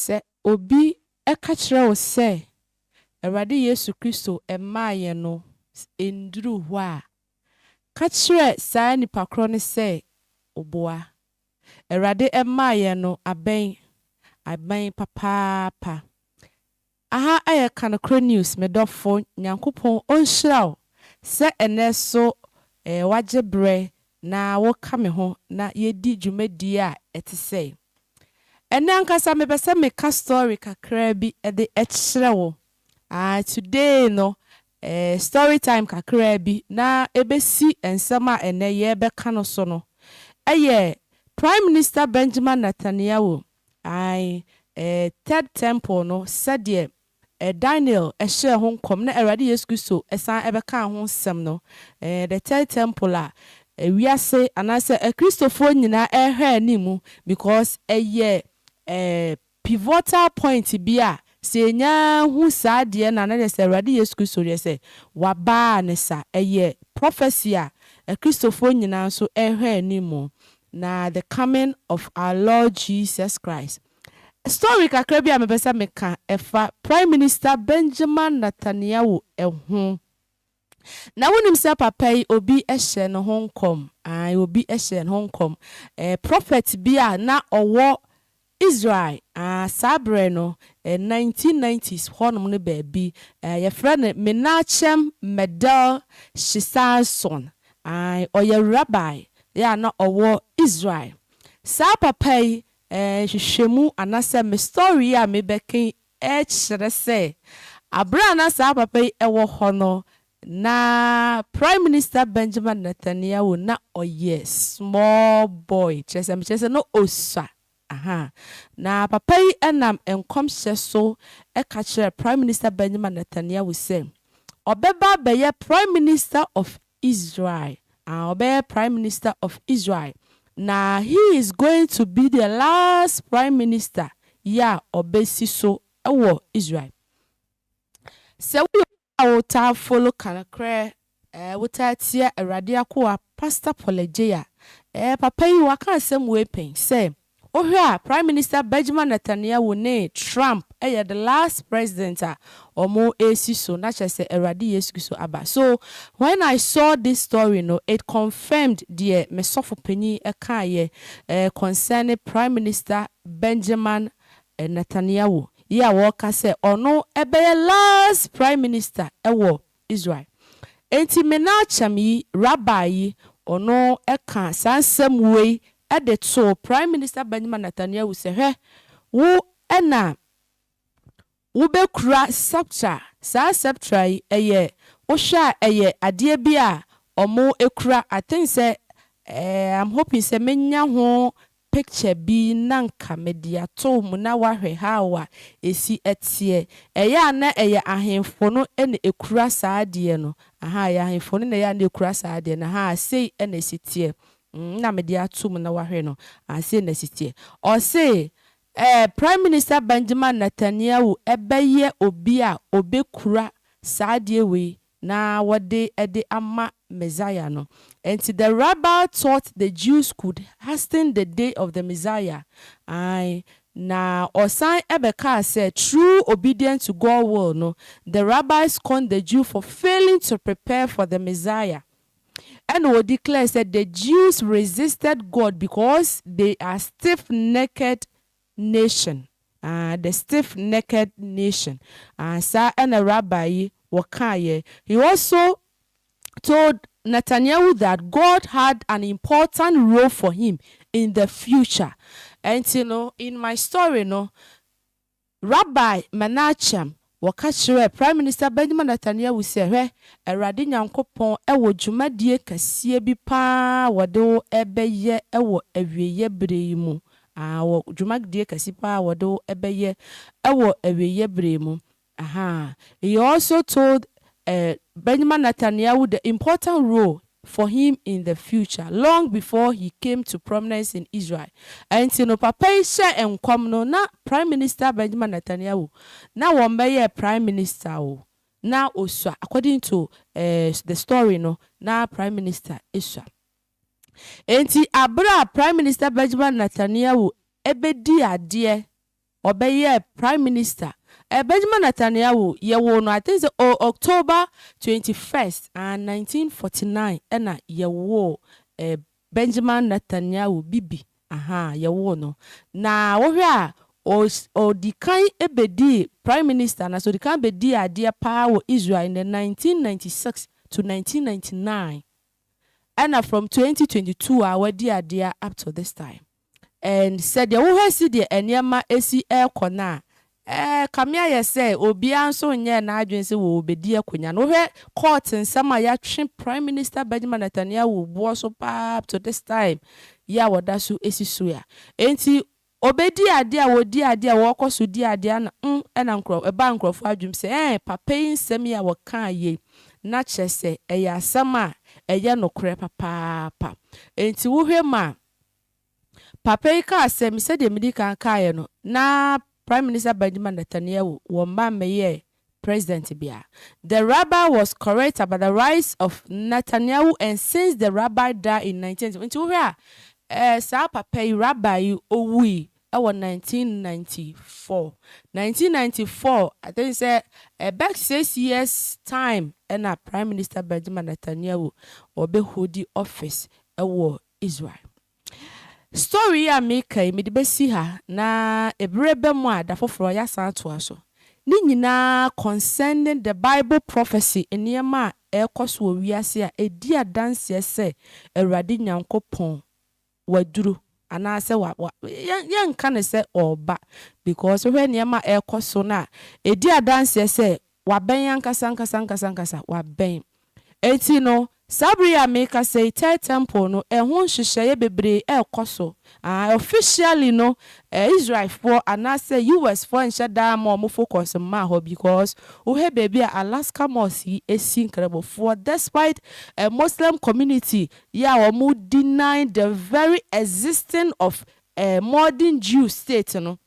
Sɛ obi ka kyerɛ wo sɛ Awurade Yesu Kristo mmaa yɛn no nnuruu hɔ a, ka kyerɛ saa nipa korɔ no sɛ ɔboa. Awurade mmaa yɛn no abɛn, abɛn papaapa. Aha yɛ ka nokorɛ news me dɔfo Nyankopɔn ɔnhyira wo sɛ ɛnɛ so wagye berɛ na wo ka me ho na yɛdi dwumadie a ɛte sɛi. Ɛnɛ ankasa me pɛ sɛ me ka story kakraa bi de kyerɛ wo aah today no eh story time kakraa bi na ɛbɛsi nsɛm a ɛnɛ yɛrebɛka no so no ɛyɛ Prime Minister Benjamin Nathaniawoh Ae, eh, third temple no, sɛdeɛ, eh, Daniel hyɛɛ ho nkɔm na Awurade Yesu Kristo san bɛkaa ho nsɛm no, eh, the third temple a, eh, wiase anaasɛ Akristofoɔ nyinaa rehwɛ anim because ɛyɛ, eh, pivotal point bi a sɛ yɛnya hu saa deɛ no a na kyerɛ sɛ Awurade Yesu Kristo deɛ sɛ Waba a ne sa. Ɛyɛ prophecy a Akristofoɔ nyinaa nso rehwɛ anim. Na the coming of our Lord Jesus Christ. Story kakra bi a mepɛ sɛ meka ɛfa Prime Minister Benjamin Natanyahu ho. Na wonim sɛ papa yi obi hyɛ ne ho nkɔm, ae obi hyɛ ne ho nkɔm. Prophet bi a na ɔwɔ Israel, ah, saa berɛ no, eh, 1990s hɔnom no baabi, eh, yɛfrɛ no Menachem Mendel Shesanson, ae, ɔyɛ Rabbi, yeah, na ɔwɔ Israel. Saa papa yi, eh, nhwehwɛmu, anasɛ me story yi a mebɛka yi kyerɛ sɛ bere a na saa papa yi wɔ hɔ no, na Prime Minister Benjamin Netanyahu na ɔyɛ small boy, kyerɛ sɛ mekyerɛ sɛ na ɔsua, ahaa, na papa yi nam nkɔmhyɛ so ka kyerɛɛ Prime Minister Benjamin Netanyahu sɛ ɔbɛba abɛyɛ Prime Minister of Israel ah ɔbɛyɛ prime minister of Israel na he is going to be the last prime minister yi a ɔbɛsi so wɔ Israel sɛ woyɛ obi a wotaa follow ka nokorɛ eh wotaa tia awurade akoa pastor Paul Adjei a eh papa yi waka asɛm wei pɛn sɛ Wohwɛ a Prime Minister Bejman Netanyahu ne Trump yɛ the last president a wɔresi so na kyerɛ sɛ Awurade Yesu Kristo aba. So when I saw this story no it confirmed deɛ me sɔfo panyin kaeɛ eh concerning Prime Minister Benjaman Netanyahu yi a wɔka sɛ ɔno bɛyɛ last Prime Minister wɔ Israel. Enti Menachem yi, Rabbi yi, ɔno kaa saa nsɛm wei de too Prime Minister Benjamin Netanyahu sɛ, Hwɛ, wo na wobɛkura sceptre, saa sceptre yi, ɛyɛ, wohwɛ a ɛyɛ adeɛ bi a wɔkura, I think sɛ, eh, I'm hoping sɛ mɛnya ho picture bi na nka mede ato mo na wahwɛ how a ɛsi teɛ. Ɛyɛ a na ɛyɛ ahemfo no na ɛkura saa adeɛ no, ahaa, ɛyɛ ahemfo no na ɛyɛ a na ɛkura saa adeɛ no, ahaa, sei na ɛsi teɛ, mm, na mede ato mo na wahwɛ no, ah, sei na ɛsi teɛ. Ɔse, eh, Prime Minister Benjamin Netanyahu bɛyɛ obi a ɔbɛkura saa adeɛ wei na wɔde de ama Messiah no. Enti the rabble thought the Jews could hasten the day of the Messiah, ae, na ɔsan bɛkaa sɛ through obedience to God will no, the rabble scorned the Jew for failing to prepare for the Messiah. Ɛna ɔ declare sɛ the Jews resisted God because they are stiff necked nation ah the stiff necked nation ah saa na rabbi yi wɔkaeɛ he also told Netanyahu that God had an important role for him in the future ɛnti no in my story no rabbi Menachem Wɔka kyerɛɛ Prime Minister Benjamin Netanyahu sɛ, Hwɛ, Awurade Nyankopɔn wɔ dwumadie kɛseɛ bi pa ara a wɔde wo rebɛyɛ wɔ awieɛ berɛ yi mu, ahaa, wɔ dwumadie kɛse pa ara a wɔde wo rebɛyɛ wɔ awieɛ berɛ yi mu, ahaa. He also told, eh, Benjamin Netanyahu the important role for him in the future long before he came to prominence in Israel ɛnti no papa yi hyɛ nkɔm no na prime minister Benjamin Netanyahu na wɔn bɛyɛɛ prime minister o na osua according to eh the story no na prime minister esua ɛnti abere a prime minister Benjamin Netanyahu ɛbɛdi adeɛ Ɔbɛyɛɛ Prime Minister. Benjamin Netanyahu, yɛwoo no I think sɛ o October twenty first, aah, nineteen forty nine ɛna yɛwoo eh, Benjamin Netanyahu, Bibi, ahaa, yɛwoo no. Na wohwɛ a, os, ɔdi kan bɛdii Prime Minister anaasɛ ɔdi kan bɛdii adeɛ pa ara wɔ Israel in the nineteen ninety six to nineteen ninety nine, ɛna from twenty twenty two a wadi adeɛ up to this time. And sɛdeɛ wohwɛ sedeɛ nneɛma si rekɔ no a, eh, kame ayɛ sɛ obiara nso nyɛɛ n'adwene sɛ wɔrebɛdi akonya no. Wohwɛ court nsɛm a yɛatwe Prime Minister Benjamin Netanyahu boɔ so pa ara up to this time yi a wɔda so si so a. Enti ɔbɛdi adeɛ a wɔdi adeɛ a wɔkɔ so di adeɛ a na mm, ɛna nkurɔ, ɛbaa nkurɔfoɔ adwenem sɛ eh, papa yi nsɛm yi a wɔkaa yei, na kyerɛ sɛ ɛyɛ asɛm a ɛyɛ nokorɛ papaapa. Enti wohwɛ mu a, Papa yi kaa sɛ, Me sɛdeɛ medi kan kaeɛ no, na Prime Minister Benjamin Netanyahu wɔ mma mmɛyɛɛ President biara. The rabbi was correct about the rise of Netanyahu and since the rabbi died in 1994, nti wohwɛ a, eh, saa papa yi, rabbi yi, owui wɔ 1994. 1994, I think sɛ ɛbɛ six years time na Prime Minister Benjamin Netanyahu ɔbɛhodi office wɔ Israel. Story yi a meka yi mede bɛsi ha na ɛberɛ ba mu a da foforɔ yɛasan atoa so. Ne nyinaa concerning the bible prophecy nneɛma a ɛrekɔ so wɔ wiase a ɛdi adanseɛ sɛ Awurade Nyankopɔn waduru anaa sɛ wa wa yɛnka no sɛ ɔreba because wohwɛ nneɛma a ɛrekɔ so no a ɛdi adanseɛ sɛ Wabɛn ankasa ankasa ankasa ankasa. Wabɛn. Enti no, saa bere yi a merekasa yi, Third Temple no, ɛho nhyehyɛeɛ bebree rekɔ so. Ah, officially no, eh, Israelfoɔ anaasɛ US foɔ nhyɛ da mma wɔn focus mmaa hɔ because wohwɛ baabi a Alaska Mosque yi si Nkramofoɔ, despite eh, Muslim community yi a wɔn deny the very existing of eh, modern Jew state no,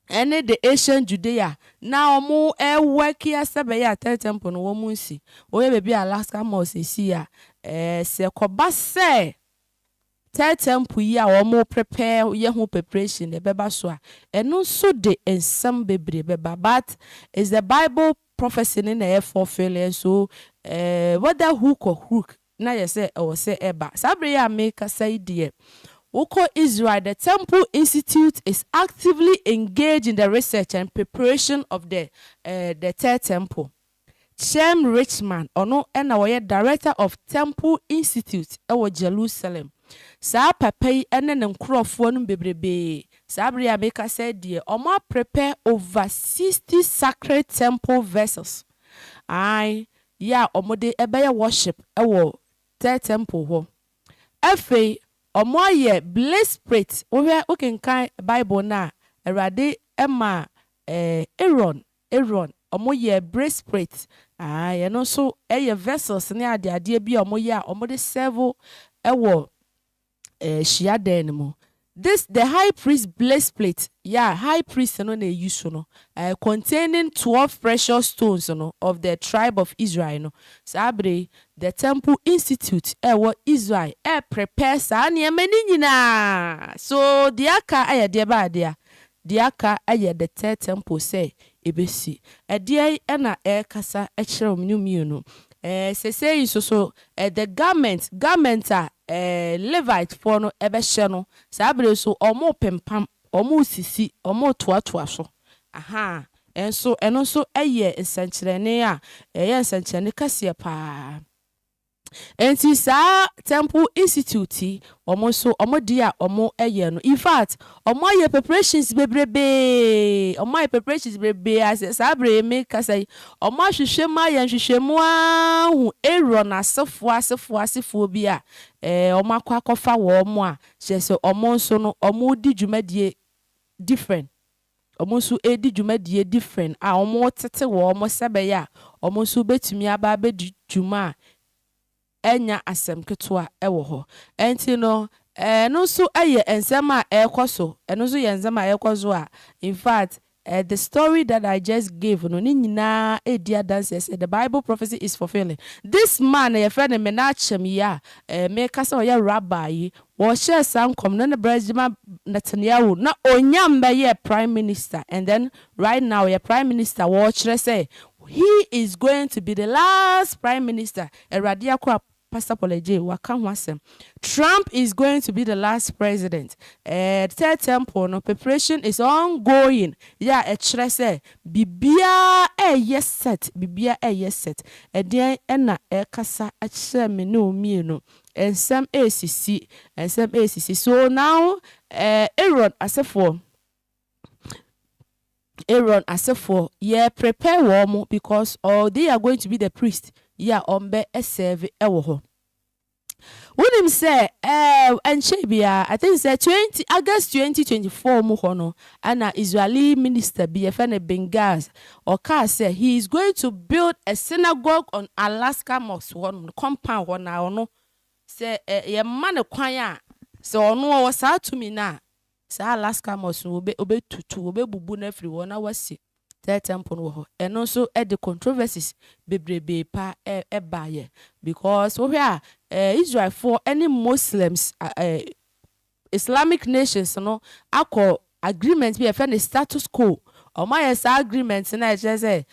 ɛne the ancient Judea na ɔmo ɛwɛk yɛ sɛ bɛyɛ a third temple no wɔmo nsi woyɛ baabi a Alaska mall sɛsi yi a ɛɛ sɛ ɛkɔba sɛ third temple yi a wɔmo prepare yɛ ho preparation no ɛbɛba so a ɛno nso de nsɛm bebree bɛba but it's the bible prophecy no na ɛɛ fulfill nso ɛɛ whether hook or crook na ayɛ sɛ ɛwɔ sɛ ɛba. Saa bere yi a merekasa yi deɛ, wokɔ Israel, the Temple Institute is actively engaged in the research and preparation of the the Third Temple. Chaim Richman, ɔno na ɔyɛ Director of Temple Institute wɔ Jerusalem. Saa papa yi ne ne nkurɔfoɔ no bebrebe, saa bere yi a merekasa yi deɛ, wɔaprepare over sixty sacred temple vessels. Aane, yɛ a wɔde bɛyɛ worship wɔ Third Temple hɔ. Afei wɔayɛ blesprate, wohwɛ wokenkan Bible no a, Awurade maa Aaron, Aaron, wɔyɛɛ blesprate, ae, ɛno nso yɛ vessels ne adeadeɛ bi a wɔyɛ a wɔde serve wɔ eh, hyiadan no mu. This the high priest blessed plate, yɛ a high priest no na eyi so no, eh, containing twelve precious stones no of the tribe of Israel no. Saa bere yi, the temple institute a ɛwɔ Israel reprepare saa nneɛma no nyinaa. So, deɛ aka yɛ deɛ bɛn adeɛ a? Deɛ aka yɛ the third temple sɛ ɛbɛsi. Ɛdeɛn na ɛrekasa kyerɛ wɔn no mmienu? Ɛɛ, seesei nso so, the garment, garment a ɛɛ Levitefoɔ no bɛhyɛ no, saa berɛ yi so wɔrepempam, wɔresisi, wɔretoatoa so. Ahaa, nso ɛno nso yɛ nsɛnkyerɛnne a ɛyɛ nsɛnkyerɛnne kɛseɛ pa ara. Enti saa Temple Institute yi wɔn nso wɔn adeɛ a wɔyɛ no in fact wɔn ayɛ preparations bebrebee wɔn ayɛ preparations bebrebee a sɛ saa berɛ yi me kasa yi wɔn ahwehwɛ mu ayɛ nhwehwɛmu ahu Aaron asefoɔ asefoɔ asefoɔ bi a ɛɛ wɔn akɔ akɔfa wɔn a kyerɛ sɛ wɔn nso no wɔn redi dwumadie different wɔn nso redi dwumadie different a wɔretete wɔn sɛ ɛbɛyɛ a wɔn nso bɛtumi aba abɛdi dwuma a ɛnyɛ asɛm ketewa wɔ hɔ. Ɛnti no ɛno nso yɛ nsɛm a ɛrekɔ so, ɛno nso yɛ nsɛm a ɛrekɔ so a in fact the story that I just gave no ne nyinaa redi adanseɛ sɛ the bible prophecy is fulfilling. This man a yɛfrɛ no Menachem yi a mereka sɛ ɔyɛ rabbi yi Wɔhyɛɛ saa nkɔm no na Brɛgyema Netanyahu na ɔnya mbɛyɛɛ prime minister and then right now ɔyɛ prime minister wɔɔkyerɛ sɛ he is going to be the last prime minister Awurade akoa Pastor Paul Adjei waka ho asɛm Trump is going to be the last president ɛɛd third temple no preparation is ongoing yɛ a ɛkyerɛ sɛ biribiaa ɛɛyɛ set biribiaa ɛɛyɛ set ɛdeɛn ɛna ɛɛkasa akyerɛ me ne wo mmienu Nsɛm resisi, nsɛm resisi. So now eh, Aaron asefoɔ, Aaron asefoɔ, yɛ prepare wɔn because oh, they are going to be the priest yi a wɔn bɛ serve ɛwɔ hɔ. Wonim sɛ eh, ɛnkyɛ biara, I think sɛ 20 August 2024 mu hɔ no, ɛna Israeli minister bi yɛfɛ no Bengazi, Ɔkaa sɛ he is going to build a synagogue on Alaska Mosque hɔ nom no, compound hɔ na ɔno sɛ yɛma no kwan a, sɛ ɔno ɔwɔ saa tumi no a, saa Alaska Mosque no ɔbɛtutu, ɔbɛbubu no afiri hɔ na wasi Third Temple no wɔ hɔ. Ɛno nso de controversies bebrebee paa baeɛ because wohwɛ a Israelfoɔ ne Muslims Islamic nations no akɔ agreement bi a yɛfrɛ no status quo, wɔayɛ saa agreement no a ɛkyerɛ sɛ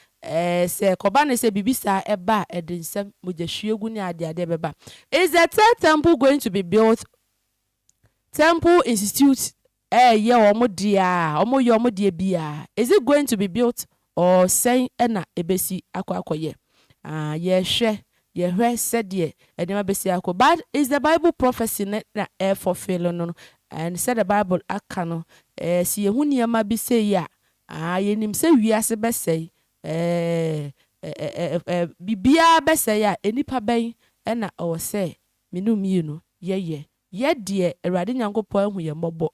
sɛ ɛkɔba no sɛ biribi saa ba a ɛde nsɛm, mogyahwiegu ne adeade bɛba. Is the third temple going to be built? Temple insitute ɛɛyɛ wɔn deɛ a, wɔyɛ wɔn deɛ bi a, is it going to be built? Oh, sɛn na ɛbɛsi akɔ akɔyɛ? Ah, yɛhwɛ, yɛhwɛ sɛdeɛ nneɛma bɛsi akɔ. But is the Bible prophecy no na ɛrefulfill no no? And sɛ the Bible aka no, eh, sɛ yɛhu nneɛma bi sei a, ah, yɛnim sɛ wiase bɛsɛe, eh, eh, eh, eh, eh, biribiara bɛsɛe a, nnipa bɛn na ɛwɔ sɛ me ne wo mmienu yɛyɛ? Yɛ deɛ Awurade Nyankopɔn ahu yɛn mmɔbɔ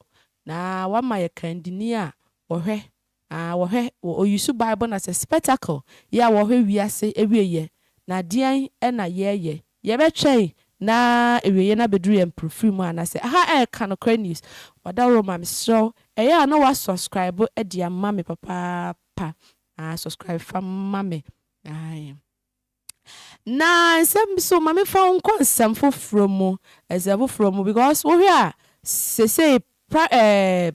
na wama yɛ kandini a ɔhwɛ a wɔhwɛ wɔ Oyisu Bible na sɛ spectacle yɛ a wɔhwɛ wiase awieɛ na deɛn na yɛɛyɛ? Yɛbɛtwɛn na awieɛ no abɛduru yɛn mprofiri mu anaa sɛ aha ɛɛka nokorɛ news wadaworo ma me serɛ wo ɛyɛ a na wa suscribe de ama me papaapa aa suscribe fa ma me ae na nsɛm bi so ma me fa wo nkɔ nsɛm foforɔ mu nsɛm foforɔ mu because wohwɛ a sesei pra ɛɛ.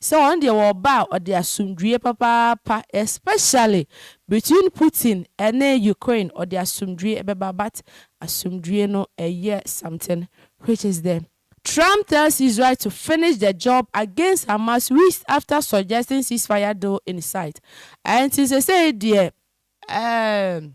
sɛ wɔn deɛ wɔ ɔba a ɔde asomdwie papaapa especially between Putin ɛne Ukraine ɔde asomdwie ɛbɛba but asomdwie no ɛyɛ something which is the Trump tells Israel to finish the job against Hamas weeks after suggesting ceasefire deal in sight ɛnti sesei deɛ ɛɛm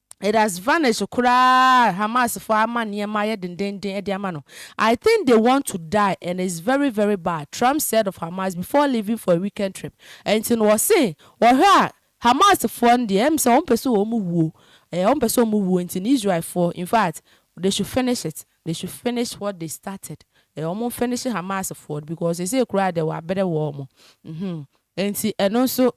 It has vanished koraa Hamas foɔ ama nneɛma ayɛ dendenden de ama no I think they want to die and it's very very bad Trump said of Hamas before leaving for a weekend trip Ɛnti no ɔse wɔhwɛ a Hamas foɔ no deɛ ɛm sɛ wɔn pɛ sɛ wɔn wuo eh wɔn pɛ sɛ wɔn wuo nti no Israel foɔ in fact they should finish it they should finish what they started eh wɔn nfinishe Hamas foɔ no because seesei koraa deɛ wɔabrɛ wɔn mhm Ɛnti ɛno nso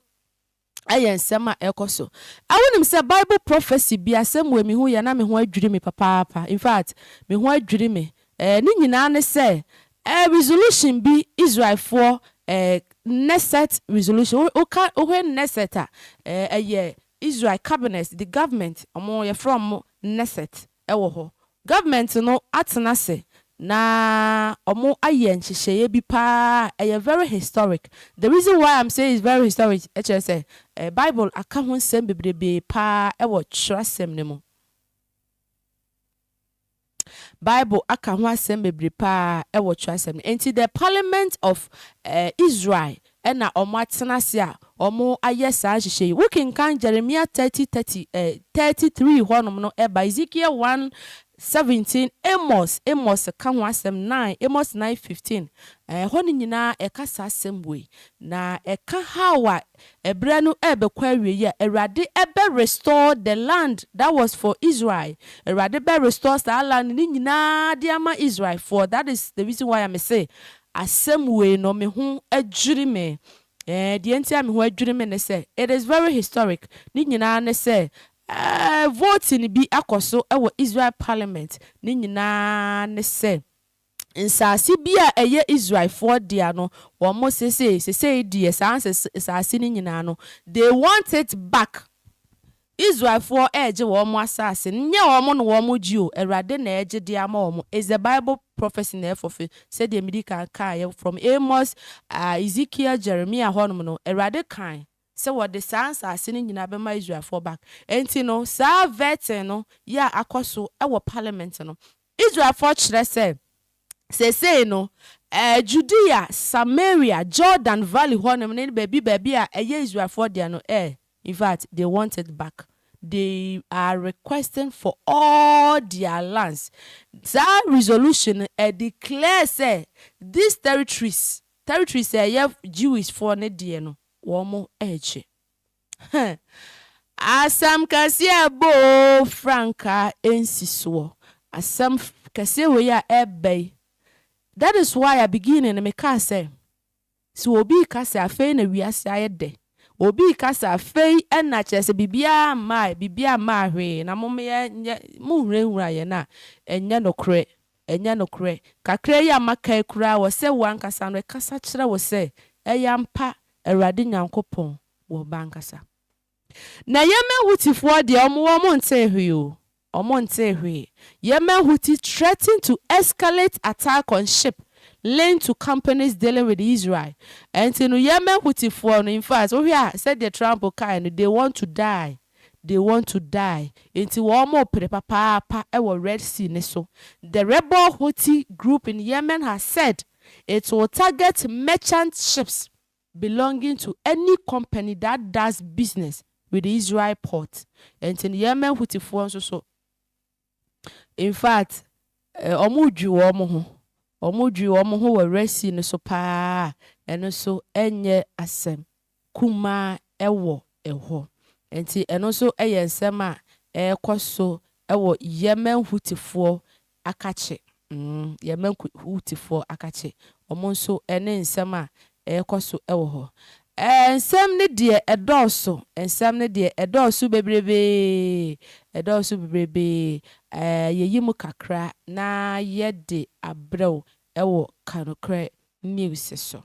Ɛyɛ nsɛm a ɛkɔ so. A Wonim sɛ Bible prophecy bi asɛm wei me hu yɛ na me ho adwiri me papaapa. In fact, me ho adwiri me. Eh, ne nyinaa ne sɛ, eh, resolution bi Israelfoɔ, eh, Knesset resolution. Wo, woka, wohwɛ Knesset a, eh, ɛyɛ Israel cabinet, the government, wɔn, yɛfrɛ wɔn Knesset. wɔ hɔ. Government no atena ase na ɔmo ayɛ nhyehyɛeɛ bi paa a ɛyɛ very historic. The reason why I'm saying it's very historic ɛkyerɛ sɛ Bible aka ho nsɛm bebrebee paa ɛwɔ twerɛsɛm no mu. Bible aka ho asɛm bebree paa ɛwɔ twerɛsɛm no mu. Ɛnti the parliament of Israel na wɔatena ase a wɔayɛ saa nhyehyɛe yi. Wokenkan Jeremia thirty thirty, eh, thirty three hɔnom no, ɛba Ezekiel one seventeen, Amos, Amos ka ho asɛm nine, Amos nine fifteen, eh, ɛhɔ no nyinaa ɛka saa asɛm wei. Na ɛka how a ɛberɛ no ɛrebɛkɔ awieeɛ a Awurade bɛ restore the land that was for Israel. Awurade bɛ restore saa land no nyinaa de ama Israelfoɔ. That is the reason why a mese Asɛm wei no me ho adwiri me eh, deɛ nti a me ho adwiri me ne sɛ it is very historic, ne nyinaa ne sɛ eh voting bi akɔ so wɔ Israel parliament, ne nyinaa ne sɛ nsaase bi a ɛyɛ Israelfoɔ dea no wɔn sesei sesei deɛ saa nsaase no nyinaa no they want it back, Israelfoɔ regye wɔn asase no nyɛ wɔn na wɔn gye o Awurade na ɛregye de ama wɔn it's the bible prophecy na ɛfulfil sɛdeɛ medi kan kaeɛ from Amos, Ezekiel, Jeremiah hɔnom no Awurade kae sɛ wɔde saa nsase no nyinaa bɛma Israelfoɔ back ɛnti no saa vetting no yɛ a akɔso wɔ parliament no Israelfoɔ kyerɛ sɛ, seesei no, Judea, Samaria, Jordan Valley hɔnom ne baabi baabi a ɛyɛ Israelfoɔ dea no, eh, in fact, they want it back. They are requesting for all their lands. Saa resolution no, ɛ declare sɛ, these territories, territories a ɛyɛ Jewishfoɔ no deɛ no, wɔn regye. Huh! Asɛm kɛseɛ ɛbɔ oo frankaa ɛnsi soɔ asɛm kɛseɛ wei a ɛɛba yi that is why at beginning no me kaa sɛ sɛ obi reka sɛ afei na wiase ayɛ dɛ obi reka sɛ afei na kyerɛ sɛ biribiara mmaeɛ biribiara mmaa hwee na mom yɛ nyɛ mo nhurahura yɛn a ɛnyɛ nokorɛ ɛnyɛ nokorɛ kakra yi a maka yi koraa wɔ sɛ wo ankasa no ɛkasa kyerɛ wo sɛ ɛyɛ ampa Awurade Nyankopɔn wɔ ba ankasa. Na Yemen Houthi-foɔ deɛ wɔn wɔn ntee hwee o, wɔn ntee hwee, Yemen Houthi threatened to escalate attack on ship linked to companies dealing with Israel, ɛnti no Yemen Houthi-foɔ no, in fact wohwɛ a sɛdeɛ Trump kaeɛ no, they want to die, they want to die, ɛnti wɔn repere papaapa wɔ Red Sea no so, the rebel Houthi group in Yemen has said it will target merchant ships. belonging to any company that does business with the Israel port, ɛnti no Yemen Houthi-foɔ nso so, in fact, wɔn dwi wɔn ho, wɔn dwi wɔn ho wɔ Red Sea no so paa a, ɛno nso nyɛ asɛm kumaa wɔ hɔ. Ɛnti ɛno nso yɛ nsɛm a ɛrekɔ so wɔ Yemen Houthi-foɔ akakye, mm, yɛn mma Hutifoɔ akakye, wɔn nso ne nsɛm a ɛrekɔ so wɔ hɔ. Ɛɛ, nsɛm no deɛ ɛdɔɔso, nsɛm no deɛ ɛdɔɔso bebrebee, ɛdɔɔso bebrebee. Ɛɛ, yɛyi mu kakra na yɛde abrɛ wo wɔ Ka Nokorɛ News so.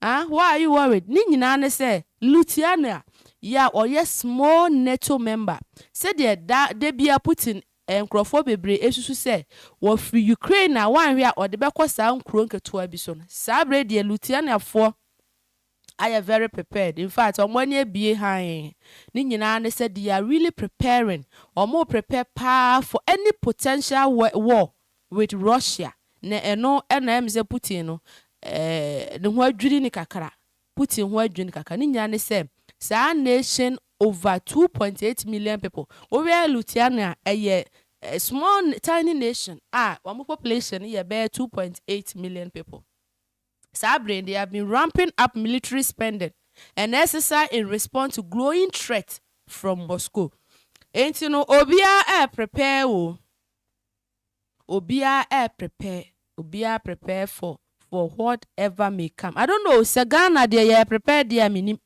Ah, why are you worried? Ne nyinaa ne sɛ, Lutyanna, yi a ɔyɛ small NATO member, sɛdeɛ da da biara Putin nkorɔfoɔ bebree resusu sɛ wɔfiri Ukraine a wanhwɛ a ɔde bɛkɔ saa nkuro nketewa bi so no, saa berɛ yi deɛ Lutyannafoɔ ayɛ very prepared, in fact wɔn ani abue hann. Ne nyinaa ne sɛ they are really preparing, wɔn reprepare paa for any potential war with Russia na ɛno na ɛyɛ me sɛ Putin no ne ho adwiri no kakra, Putin ho adwiri no kakra, ne nyinaa ne sɛ saa nation over two point eight million people, wo hwɛ Luthiana a ɛyɛ small tiny nation a wɔn population no yɛ bɛyɛ two point eight million people, saa bere they have been ramping up military spending and exercise in response to growing threat from Moscow, enti no obiara ɛɛ prepare o, Obiara ɛɛ prepare obiara prepare for for what ever may come I don't know sɛ Ghana deɛ yɛ prepare deɛ a menim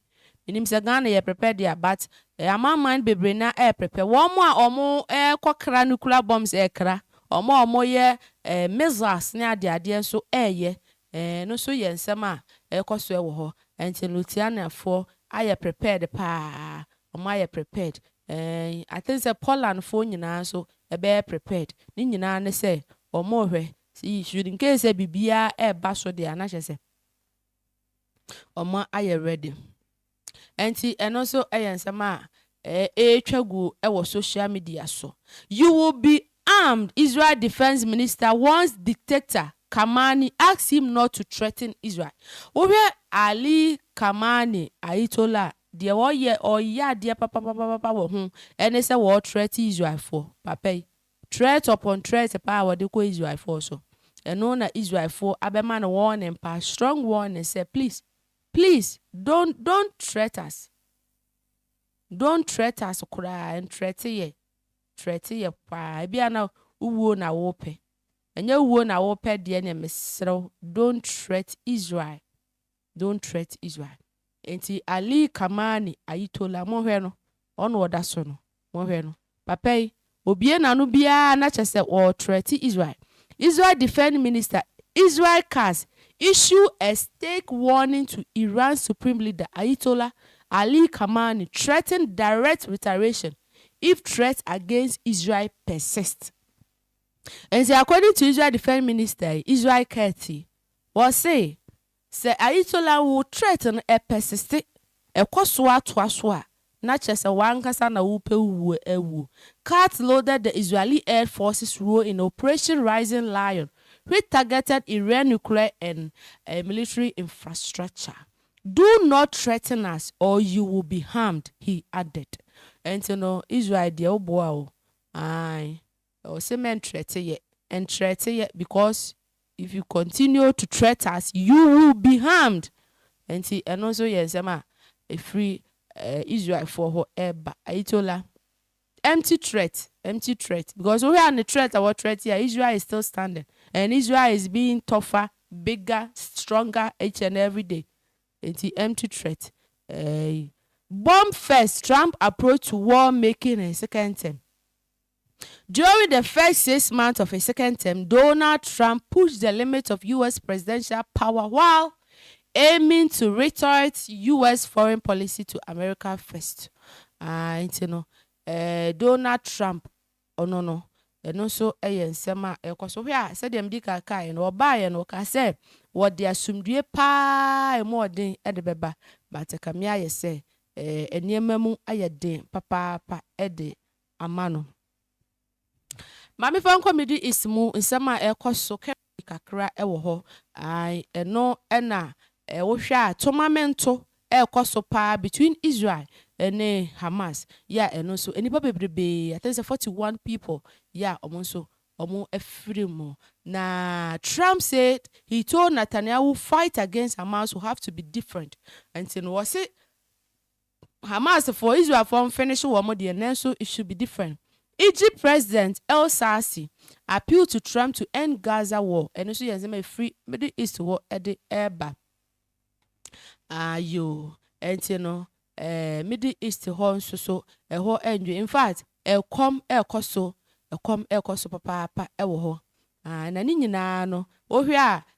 menim sɛ Ghana yɛ prepare deɛ a but amanman bebree na ɛɛ prepare wɔn mo a wɔn ɛɛ kɔ kra nuclear bombs ɛɛ kra wɔn a wɔn yɛ ɛɛ missiles ne adeɛ adeɛ nso ɛɛ yɛ ɛɛ ɛno nso yɛ nsɛm a ɛɛkɔ so ɛwɔ hɔ ɛnti Luthianiafoɔ ayɛ prepared paa Ɔmo ayɛ prepared eeh. I think sɛ Poland foɔ nyinaa nso ɛbɛyɛ prepared. Ne nyinaa ne sɛ ɔmo rehwɛ sɛ should in case sɛ biribiaa ɛɛba so deɛ a na kyerɛ sɛ ɔmo ayɛ ready. Ɛnti ɛno nso ɛyɛ nsɛm a ɛɛtwa gu ɛwɔ social media so. You will be armed, Israel Defence Minister warns dictator Khamenei asks him not to threaten Israel. Wohwɛ Ali Khamenei, Ayitollah Deɛ wɔyɛ, wɔyɛ adeɛ papapapapa wɔ ho ne sɛ wɔ threat Israelfoɔ, papa yi, threat upon threat paa a wɔde kɔ Israelfoɔ so, ɛno na Israelfoɔ abɛma no warning paa, strong warning sɛ please, please don't, don't threat us, don't threat us koraa, ntrɛte yɛ, ntrɛte yɛ paa, ebia na wowuo na wopɛ, ɛnyɛ wowuo na wopɛ deɛ neɛ meserɛ wo don't threat Israel, Don't threat Israel Enti Ali Kamani Ayitola monhwɛ no ɔna ɔda so no monhwɛ no papa yi obie nano biara na kyɛsɛ ɔɔ threat Israel Israel defend minister Israel cars issue a stake warning to Iran supreme leader Ayitola Ali Kamani threaten direct retaliation if threat against Israel persist Enti according to Israel defend minister yi Israel car ti wɔse Sɛ Ayitollah wo threat no ɛ persiste, ɛkɔ so ara toa so a, na kyerɛ sɛ w'ankasa na wo pɛ wo wuo ɛ wuo. Katz loaded the Israeli air force's role in Operation Rising Lion which targeted Iran nuclear and military infrastructure. Do not threaten us or you will be harmed, he added. Ɛnti no Israel deɛ wo boa o, aane. Ɛwɔ sɛ mɛ ntrɛte yɛ. Ntrɛte yɛ because if you continue to threat us you will be harmed ɛnti ɛno nso yɛ nsɛm a ɛfiri Israelfoɔ hɔ ɛba. Ayitola empty threat empty threat because wohwɛ a ne threat a wɔ threat yɛ a Israel is still standing and Israel is being tougher, bigger, stronger each and every day ɛnti empty threat ɛɛyi. Bomb first Trump approach to war making and second term. During the first six months of his second term, Donald Trump pushed the limits of US presidential power while aiming to retort US foreign policy to America first. Ah, nti no, eh, Donald Trump, ɔno no, ɛno nso yɛ nsɛm a ɛkɔ so. Hwɛ a, sɛdeɛ medi kan kaeɛ no, ɔbaeɛ no, ɔkaa sɛ wɔde asomdwoeɛ paa a ɛmu ɔden de bɛba, but ɛkame ayɛ sɛ eh, nneɛma mu ayɛ den papaapa de ama no. Ma memfa nkɔ Middle East mu nsɛm a ɛrekɔ so kɛkɛ kakra wɔ hɔ. Ae, ɛno na wohwɛ a tomamento rekɔ so paa between Israel ne Hamas. Yeah, ɛno nso, nnipa bebrebe, I think sɛ forty one people, yeah, wɔn nso wɔafiri mu. Na Trump said, he told Netanyahu fight against Hamas will have to be different. Nti no, wɔse Hamas foɔ Israel foɔ nfinish wɔn deɛ nanso it should be different Egypt president El Sarsi appeal to Trump to end Gaza war ɛno nso yɛ nsɛm a ɛfiri middle east hɔ de reba aayoo ɛnti no ɛɛ middle east hɔ nso so ɛhɔ ɛndwo infact ɛkɔm ɛɛkɔ so ɛkɔm ɛɛkɔ so papaapa ɛwɔ hɔ aah na ne nyinaa no wohwɛ a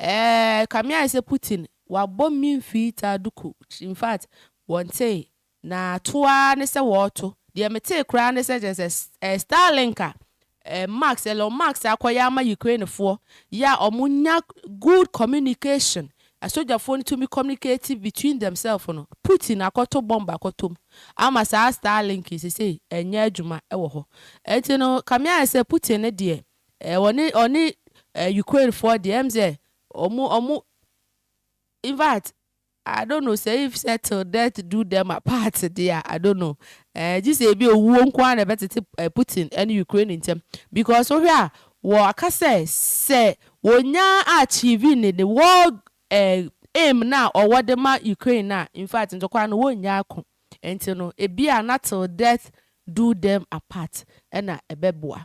Eeii kame ayɛ sɛ Putin wabɔ me mfii taa duku infact wɔntee na to ara ne sɛ wɔɔto deɛ metee koraa ne sɛ kyerɛ sɛ eh Starlink a eh Max Elon Max akɔyɛ ama Ukraine foɔ yɛ a ɔmo nya good communication asogyafoɔ no tumi communicate between themselves no Putin akɔto bomb akɔtɔ mu ama saa Starlink yi sesei ɛnyɛ adwuma wɔ hɔ ɛnti no kame ayɛ sɛ Putin no deɛ Eh ɔne ɔne eh Ukraine foɔ deɛ ɛm sɛ ɔmo ɔmo infact I don't know sɛ if sɛ till death do them apart deɛ a I don't know eh gyesɛ ebi owuo nko ara na ɛbɛtete eh Putin ɛne Ukraine ntɛm because wohwɛ a wɔ aka sɛ sɛ wɔnya achieve ne ne war eh aim no a ɔwɔ de ma Ukraine no a infact ntɔkwa no wɔnnya ako nti no ebia na till death do them apart ɛna ɛbɛboa.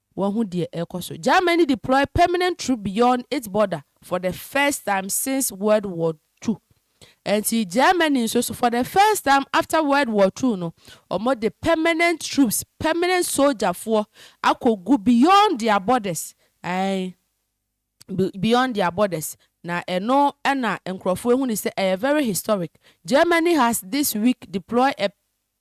Wahu deɛ ɛrekɔ so. Germany deploy permanent troop beyond its border for the first time since World War Two. Ɛnti Germany nso so for the first time after World War Two no, wɔde permanent troops, permanent sogyafoɔ akɔgu beyond their borders, ae, beyond their borders. Na ɛno na nkorɔfoɔ ahunu sɛ ɛyɛ very historic. Germany has this week deploy a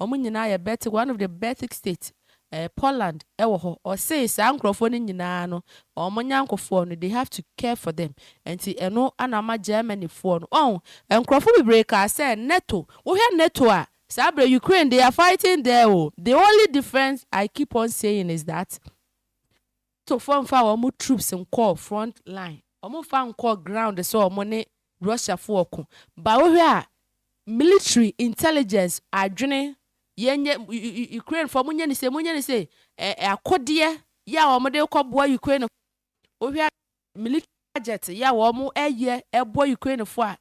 Wɔn nyinaa yɛ Baltic, one of the Baltic state, ɛɛ, Poland wɔ hɔ. Ɔse saa nkorɔfoɔ no nyinaa no, wɔn nyankofoɔ no, they have to care for them. Nti ɛno na ama Germany foɔ no, ɔho, nkorɔfoɔ bebree kaa sɛ NATO, wohwɛ NATO a, saa berɛ Ukraine, they are fighting there o, the only difference I keep on saying is that, to fo nfa wɔn troops nkɔɔ front line wɔn nfa nkɔɔ ground sɛ wɔn ne Russia fo ɔko but wo hwɛ a military intelligence adwene yɛ nyɛ Ukraine fo wɔn nyɛ ne sei wɔn nyɛ ne sei ɛ akodeɛ yɛ a wɔn de rekɔ boa Ukraine fo wo hwɛ a military budget yɛ a wɔyɛ ɛboɔ Ukraine foɔ a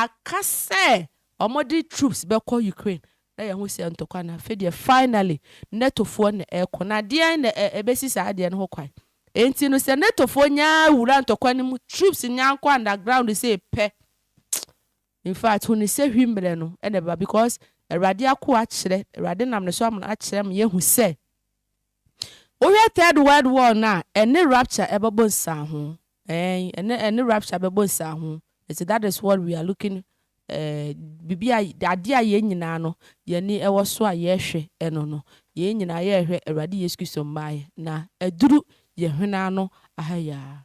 aka sɛ wɔde troops bɛkɔ Ukraine na yɛho sɛ ntɔkwa na afei deɛ finally NATO foɔ na ɛkɔ na deɛn na ɛbɛsi saa adeɛ no ho kwan ɛnti no sɛ NATO foɔ nyaa wura ntɔkwa no mu troops nyaa nkɔ underground sei pɛ infact huni sɛ hwi mmerɛ no na ɛba because awurade akoa akyerɛ awurade nam ne so akyerɛ ma yɛhu sɛ Wohwɛ Third World War no a, ɛne rapture ɛbɛbɔ nsiaho. Ɛɛn, ɛne, ɛne rapture bɛbɔ nsiaho. Nti that is what we are looking, eh, biribi a, adeɛ a yɛn nyinaa no, yɛn ani ɛwɔ so a yɛrehwɛ ɛno no, yɛn nyinaa yɛrehwɛ Awurade Yesu Kristo mmaeɛ, na aduru yɛn hwene ano aha yi ara.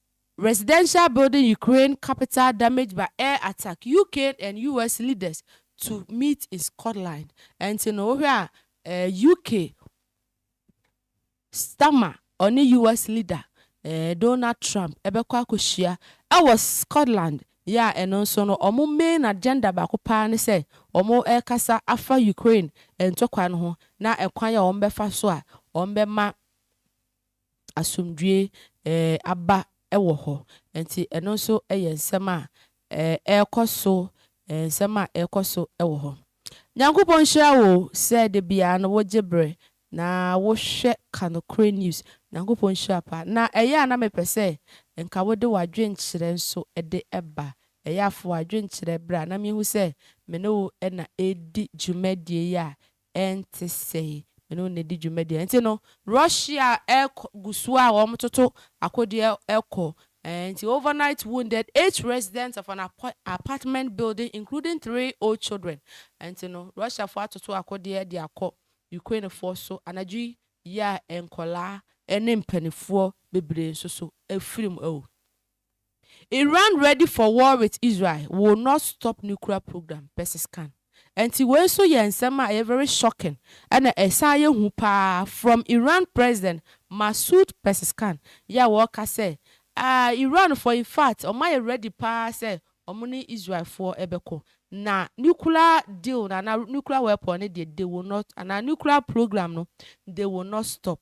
Residential Building Ukraine Capital Damaged by Air Attack, UK and US Leaders to Meet in Scotland, Ɛnti no wohwɛ a UK Starmer ɔne US Leader Donald Trump bɛkɔ akɔhyia wɔ Scotland yɛ a ɛno nso no wɔn main agenda baako paa ne sɛ wɔrekasa afa Ukraine ntɔkwa no ho na ɛkwan a wɔbɛfa so a wɔbɛma asomdwoeɛ aba wɔ hɔ. Nti ɛno nso yɛ nsɛm a ɛrekɔ so, nsɛm a ɛrekɔ so wɔ hɔ. Nyankopɔn nhyira wo sɛ da biara no wogye berɛ na wohwɛ Ka Nokorɛ News. Nyankopɔn nhyira paa. Na ɛyɛ a na mepɛ sɛ nka wode w'adwenkyerɛ nso de ba. Ɛyɛ a fa w'adwenkyerɛ bra na menhu sɛ me ne wo na ɛredi dwumadie yi a ɛnte sɛɛ, me ne wo na ɛdi dwumadie. Nti no, Russia ɛkɔ gu so a wɔn toto akodeɛ ɛkɔ. Ɛɛ nti overnight wounded eight residents of an apartment building including three old children. Nti no, Russia foɔ atoto akodeɛ de akɔ Ukraine foɔ so anadwo yi yɛ a nkwadaa ɛne mpanifoɔ bebree nso so afirim awu. Iran ready for war with Israel will not stop nuclear program, Pezeskan. Ɛnti wei nso yɛ nsɛm a ɛyɛ very shocking ɛna ɛsan yɛ hu paa from Iran President Masoud Pezeskan yɛ a wɔreka sɛ ah Iranfoɔ in fact wɔn ayɛ ready paa sɛ wɔn ne Israelfoɔ bɛkɔ na nuclear deal no anaa nuclear weapon no deɛ they will not anaa nuclear program no they will not stop.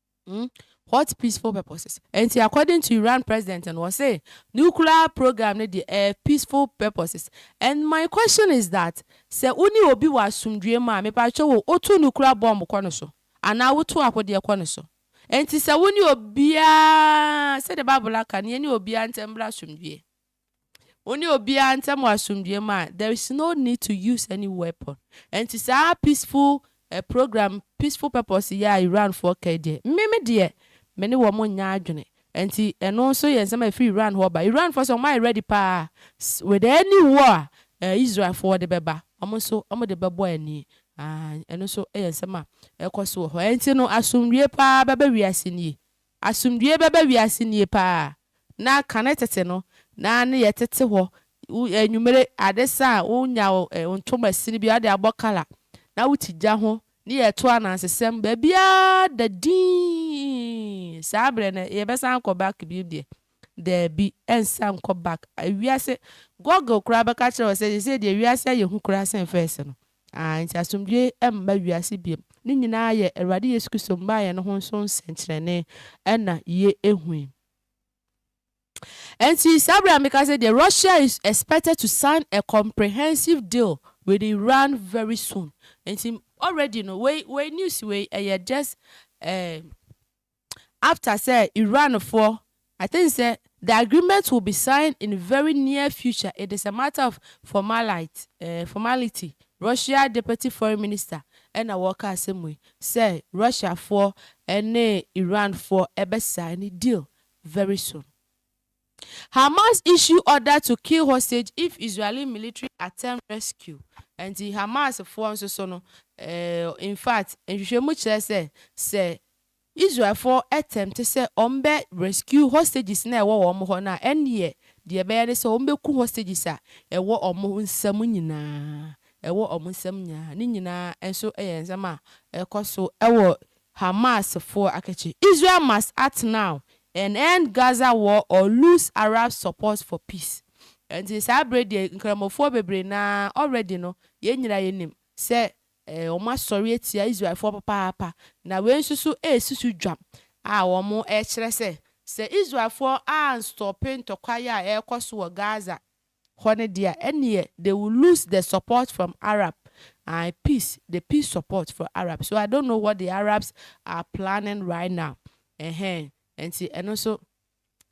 Hmm? What peaceful purposes? Enti according to Iran president no, ɔse nuclear program no deɛ ɛyɛ peaceful purposes. And my question is that, sɛ wo ne obi wɔ asomdwoeɛ mu a, mepatwɛ wo, woto nuclear bomb kɔ no so? Anaa woto akodeɛ kɔ no so? Enti sɛ wo ne obiara, sɛdeɛ Bible no aka no, yɛne obiara ntam mmra asomdwoeɛ. Wo ne obiara ntam wɔ asomdwoeɛ mu a, there is no need to use any weapon. Ɛnti saa peaceful program, peaceful purpose yi a Iranfoɔ ka yi deɛ, me me deɛ, me ne wɔn nnyɛ adwene. Ɛnti ɛno nso yɛ nsɛm a ɛfiri Iran hɔ reba. Iranfoɔ nso wɔayɛ ready paa with any war a Israelfoɔ de bɛba, wɔn nso wɔde bɛbɔ ani. Aah, ɛno nso yɛ nsɛm a ɛrekɔ so wɔ hɔ. Ɛnti no asomdwoeɛ paa bɛba wiase nie. Asomdwie bɛba wiase nie paa na kane tete no na ne yɛ tete hɔ wo anwumere ade sa a wo nya wo ntoma sini bi a wode abɔ kala na wo te gya ho ne yɛ to anansesɛm baabiaa da dinn saa berɛ no yɛ bɛsan akɔ back bio deɛ daabi ɛnsa nkɔ back wiase Google koraa bɛka kyerɛ wo sɛ sesei deɛ wiase ayɛ hu koraa sen first no Aane, nti asomdwoe mma wiase biom. Ne nyinaa yɛ Awurade Yesu Kristo mmaeɛ no ho nso nsɛnkyerɛnne ɛna yɛ hui. Ɛnti saa berɛ a meka sɛ deɛ Russia is expected to sign a comprehensive deal with Iran very soon, ɛnti already no wei wei news wei ɛyɛ just ɛɛ. after sɛ Iran foɔ I think sɛ the agreement will be signed in very near future it is a matter of formalite eh formality Russia deputy foreign minister ɛna ɔɔka asɛm wei sɛ Russia foɔ ɛne Iran foɔ ɛbɛ signe deal very soon. Hamas issue order to kill hostage if Israeli military attempt rescue, ɛnti Hamas foɔ nso so no eh, in fact nhwehwɛmu kyerɛ sɛ sɛ Israel foɔ attempt sɛ wɔn bɛ rescue hostages no a ɛwɔ wɔn hɔ no a ɛnneɛ deɛ ɛbɛyɛ ne sɛ wɔn bɛku hostages a ɛwɔ wɔn nsam nyinaa, ɛwɔ wɔn nsam nyinaa, ne nyinaa nso yɛ nsɛm a ɛkɔ so wɔ Hamasfoɔ akɛkyɛ Israel must act now and end Gaza war or lose Arab support for peace Ɛnti saa berɛ deɛ nkramofoɔ bebree no ara already no yɛn nyinaa yɛnim sɛ wɔn asɔre atia Israelfoɔ papaapa Na wei nso so ɛresusu dwam a wɔn rekyerɛ sɛ sɛ Israelfoɔ anstɔpe ntɔkwaeɛ a ɛrekɔ so wɔ Gaza Hɔ no dea ɛneɛ they will lose the support from Arab ae peace the peace support for Arab so I don't know what the Arabs are planning right now ɛhɛn ɛnti ɛno nso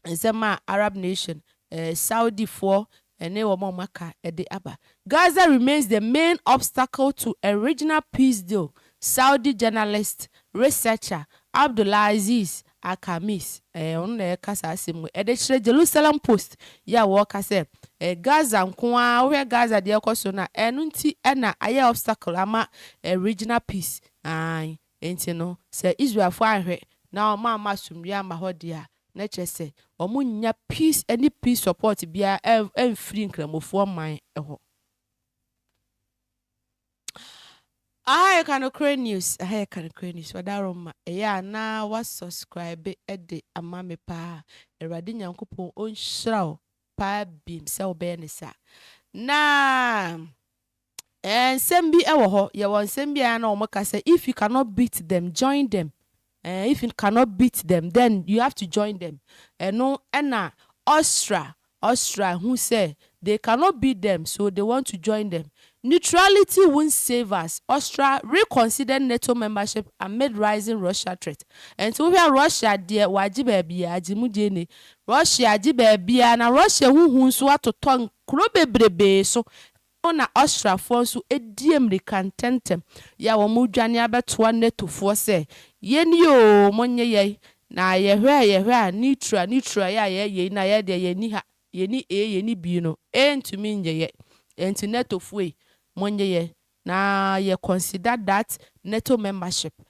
nsɛm a Arab nation ɛɛ Saudi foɔ ɛne wɔn a wɔn aka ɛde aba. Gaza remains the main obstacle to a regional peace deal Saudi journalist researcher Abdulaziz Al-Khamis, ɛɛ, ɔno na ɛreka saa asɛm wei, ɛde kyerɛ Jerusalem Post yi a wɔreka sɛ, ɛɛ, Gaza nko ara, wohwɛ Gaza deɛ ɛrekɔ so no a, ɛno nti na ayɛ obstacle ama ɛɛ, regional peace, aane, enti no, sɛ Israelfoɔ anhwɛ na wɔamma asomdwoeɛ amma hɔ deɛ a, na kyerɛ sɛ wɔnnya peace ɛne peace support biara ɛɛ, ɛmfiri Nkramofoɔ man hɔ. Aha yɛ Kanokorɛ News Aha yɛ Kanokorɛ News Wadaroma ɛyɛ a na wa subscribe de ama me paa Awurade Nyankopɔn ɔnhyira wo paa bim sɛ wo bɛyɛ ne saa Na ɛɛ nsɛm bi wɔ hɔ yɛwɔ nsɛm bi a na wɔn ka sɛ if you cannot beat them join them Eh if you cannot beat them then you have to join them ɛno ɛna Osra Osra hu sɛ they cannot beat them so they want to join them Neutrality won't save us Osra reconsidered NATO membership amid rising Russia threat Ɛnti wo hwɛ a Russia deɛ w'agye baabiaa agye mu deɛ nie Russia agye baabiaa na Russia ho hu nso atotɔ nkuro bebrebee so Ɛhɔ na asraafoɔ nso di mmirika ntɛmntɛm yɛ a wɔredwane abɛtoa Netofoɔ sɛ, Yɛnie oo, monnye yɛn! Na yɛhwɛ a yɛhwɛ a, Nitra, Nitra yɛ a yɛyɛ yei na yɛn deɛ yɛnni ha, yɛnni A, yɛnni B no, A ntumi nnye yɛn. Enti Netofoɔ ei, monnye yɛn na yɛ consider that Neto membership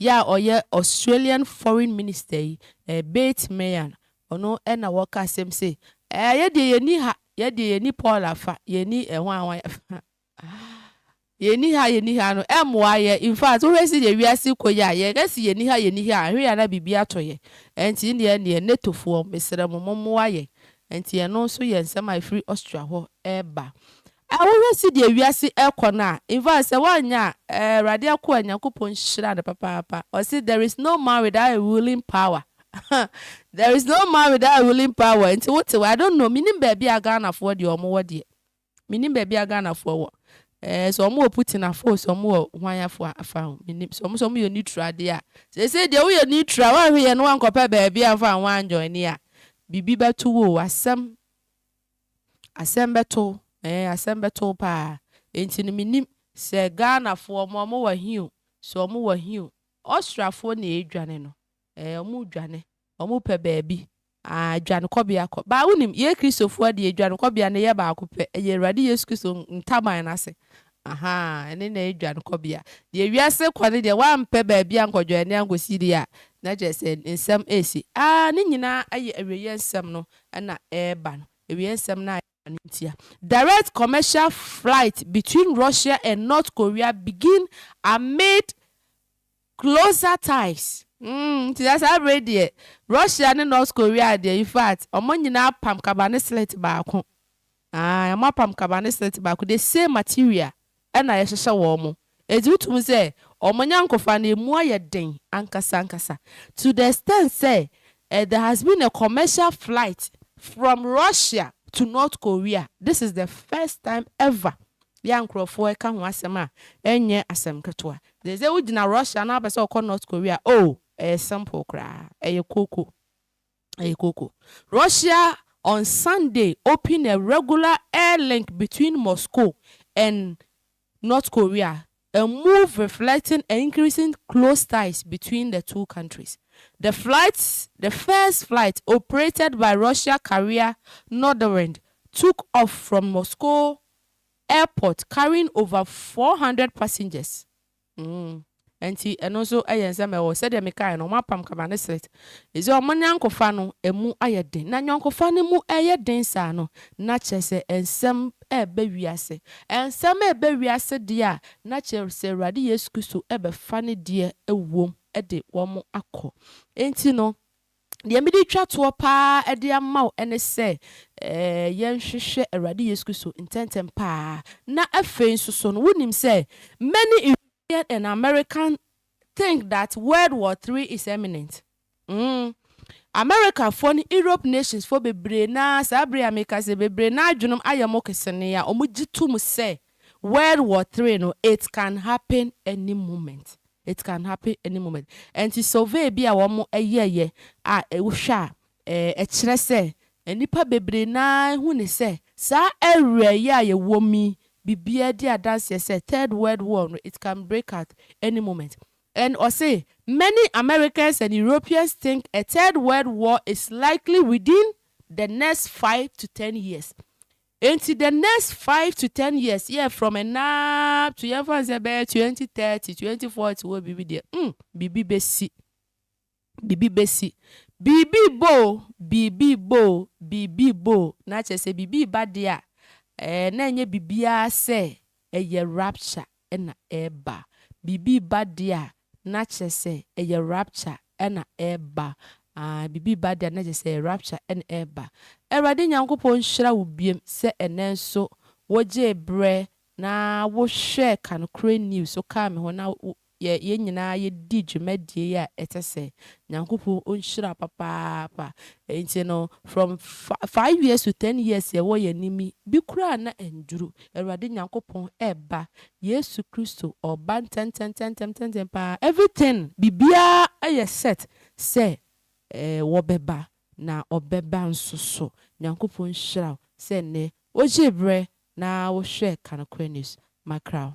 Yɛ a ɔyɛ Australian Foreign Minister yi, Bate Meehan, ɔno na ɔka asɛm sei, Ɛɛ, yɛ deɛ yɛnni ha, yɛ deɛ yɛnni Paul afa, yɛnni ɛhwan ɛhwan afa. Yɛnni ha, yɛnni ha no, ɛmmoa yɛ. In fact, wohwɛ sɛdeɛ wiase rekɔ yi a, yɛka se yɛnni ha, yɛnni ha a, ɛhwɛ yɛ a na biribi atɔ yɛn. Ɛnti nneɛ ɛnneɛ, NATOfoɔ, mesrɛ mo, mommoa yɛn. Ɛnti ɛno nso yɛ nsɛm a ɛfiri Austria hɔ reba. A Wohwɛ sedee wiase ɛkɔ no a, in fact sɛ woanyɛ a, Awurade akoa Nyankopɔn nhyira no papaapa. Ɔse there is no man without a ruling power there is no man without a ruling power nti wote wɔ I don't know, mennim baabi a Ghanafoɔ deɛ wɔn wɔ deɛ. Mennim baabi a Ghanafoɔ wɔ. Ɛɛ sɛ wɔn wɔ Putin afa o, sɛ wɔn wɔ hwan afa afa o, mennim. Sɛ wɔn sɛ wɔn yɛ neutral deɛ a, seesei deɛ woyɛ neutral, woanhwɛ yie na woankɔpɛ baabi amfa anho anjoine a, biribi bɛto wo o, asɛm. Asɛm bɛto wo eh, asɛm bɛto wo paa Enti no mennim sɛ Ghanafoɔ mo ɔmo wɔ he o, sɛ ɔmo wɔ he o Austriafoɔ na ɛredwane no eh, ɔmo redwane Ɔmo pɛ baabi ah, adwanekɔbea kɔ baa Wonim, yɛ Kristofoɔ deɛ adwanekɔbea no yɛ baako pɛ Ɛyɛ Awurade Yesu Kristo ntaban no ase Ahaa, ɛne na ɛyɛ dwankɔbea. Deɛ wiase rekɔ no deɛ, woampɛ baabi ankɔdwane ankɔsi deɛ a, na kyerɛ sɛ nsɛm resi. Aa, ne nyinaa yɛ awieeɛ nsɛm no na ɛreba no. Awieeɛ nsɛm no a ɛreba no ntia. Direct commercial flight between Russia and North Korea begin amid Closer ties mm nti na saa bere yi deɛ Russia ne North Korea deɛ infact wɔn nyinaa apam kaba ne slit baako aah wɔn apam kaba ne slit baako the same material ɛna yɛhyehyɛ wɔn nti wotu mu sɛ wɔn nyankofa no ɛmu ayɛ den ankasa ankasa to the extent sɛ eh there has been a commercial flight from Russia to North Korea this is the first time ever Bi a nkurɔfo reka ho asɛm a ɛnyɛ asɛm ketewa. Dze dɛ wogyina Russia na wɔapɛ sɛ wɔkɔ North Korea a, oh, ɛyɛ simple koraa. Ɛyɛ kooko. Ɛyɛ kooko. Russia on Sunday opened a regular air link between Moscow and North Korea A move reflecting a increasing close ties between the two countries. The flight, the first flight operated by Russia carrier Norderwind, took off from Moscow airport carrying over four hundred passengers. Mm. Ɛnti ɛno nso ɛyɛ nsɛm ɛwɔ sɛdeɛ mekaeɛ no wɔapam Kamaneslet Efisɛ wɔn ayɔnkofa no, emu ayɛ den. Na ayɔnkofa no mu reyɛ den saa no, na kyerɛ sɛ nsɛm reba wiase. Nsɛm reba wiase deɛ a, na kyerɛ sɛ Awurade Yesu Kristo bɛfa ne deɛ ɛwom de wɔn akɔ. Enti no, deɛ mede retwa toɔ pa ara de ama wo ne sɛ, yɛnhwehwɛ Awurade Yesu Kristo ntɛmntɛm pa ara. Na afei nso so no, wonim sɛ many European and American think that world war three is eminent mm America foɔ ne Europe nations foɔ bebree no ara saa bere yi a meka sɛ bebree no ara adwenem ayɛ mo kese nea wɔn gye to mu sɛ world war three no it can happen any moment it can happen any moment ɛnti survey bi a wɔn yɛɛyɛ a wohwɛ a Ɛkyerɛ sɛ, nnipa bebree no ara hu no sɛ saa awia yi a yɛwom yi, biribiara di adanseɛ sɛ Third World War no, it can break out any moment. And ɔse, Many Americans and Europeans think a Third World War is likely within the next five to ten years. Enti the next five to ten years yɛ from ɛnnɛ ara to yɛmfa no sɛ ɛbɛyɛ twenty thirty, twenty forty hɔ biribi deɛ, hmm, biribi bɛsi. Biribi bɛsi. Biribi rebɔ o, biribi rebɔ o, biribi rebɔ o. Na kyerɛ sɛ biribi reba deɛ a, ɛɛ, na ɛnyɛ biribiara sɛ ɛyɛ rapture na ɛreba. Biribi reba deɛ a, na kyerɛ sɛ ɛyɛ rapture na ɛreba. Aane, biribi reba deɛ a, na kyerɛ sɛ ɛyɛ rapture na ɛreba. Awurade Nyankopɔn nhyira wo biom sɛ ɛnnɛ nso wogyee berɛ na wohwɛɛ Kan Korɛ News, wokaa me ho na yɛ yɛn nyinaa yɛdi dwumadie a ɛtɛ sɛ Nyankopɔn ɔnhyira papaapa nti no from five years to ten years yɛwɔ yɛn anim yi bi koraa na ɛnduru Awurade Nyankopɔn ɛba Yesu Kristo ɔba ntɛntɛntɛntɛntɛntɛm paa everything biribiara ɛyɛ set sɛ wɔbɛba na ɔbɛba nso so Nyankopɔn nhyira wo sɛ nnɛ wogyee berɛ na wohwɛɛ Ka Nokorɛ News makra wo.